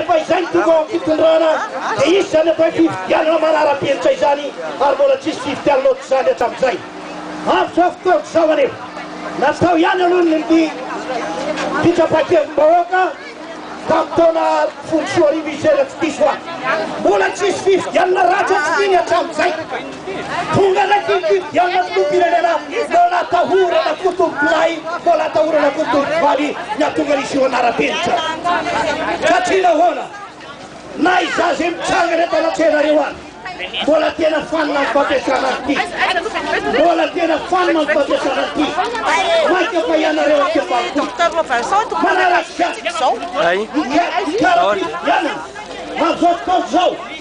Rehefa izay no tonga ao amin'ny fitondrana dia hisy izany atao hoe fifidianana manara-penitra izany ary mbola tsy hisy fifidianana ohatr'izany hatramin'izay. Avotra fotoana izao anefa. Natao ihany aloha ny fitsapan-kevim-bahoaka tamin'ny taona folo sy roa arivo izay raha tsy diso ahy. Mbola tsy hisy fifidianana raha tsy hany hatramin'izay. Tonga raiky ny fifidianana filoham-pirenena no natahorana kotompolahy no natahorana kotompovaly ny hahatonga ny zo hanara-penitra. Satria nahoana? Na izaho izay mitsangana eto anatrehanareo ary mbola tena fanina amin'ny fampiasana an'ity. Mbola tena fanina amin'ny fampiasana an'ity. Mainka fa ianareo aty ambanivohitra. Manaratsika. Ay. Mikarakara fifidianana. Amin'izao fotoana izao.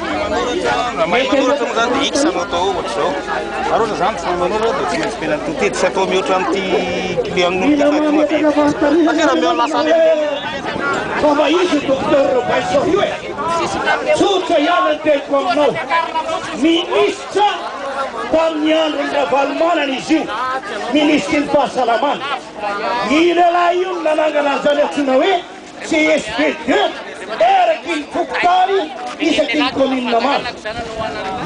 Raha mahay manoratra moa zany dia X no atao ao ohatra izao. Fa raha ohatra zany tsy mahay manoratra dia tsy maintsy mila ny tintely tsy atao mihoatra an'ity client-n'olona ity fa tonga dia satria raha miha lasa any amin'ny Fa mba izy io Docteur Robinson io e! Tsotra ihany ny teniko aminao. Minisitra tamin'ny andron'i Ravalomanana izy io, minisitry ny fahasalamana. I lehilahy io no nanangana an'izany antsoina hoe CSPD, eraky ny fokontany isaky ny commune maro.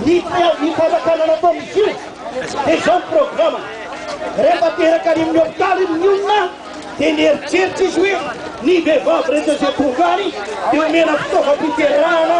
Ny preavis fanjakana nataon'izy io dia izao ny programany, rehefa teraka any amin'ny hopitaly ny olona dia nieritreritra izy hoe ny vehivavy rehetra izay tonga any dia omena fitaovam-piterahana,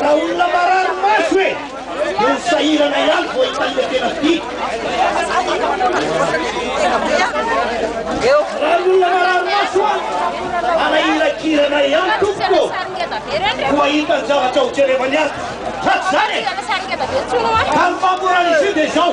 Raha olona marary maso e! Dia ny sahirana ihany vao hitan'ilay tena tiako. Raha ny olona marary maso an! Hanahirakirana ihany tompoko ô! Koa hitan'ny zavatra hojerevany ato. Hatrizany e! Ka ny fahamorana izy io dia izao.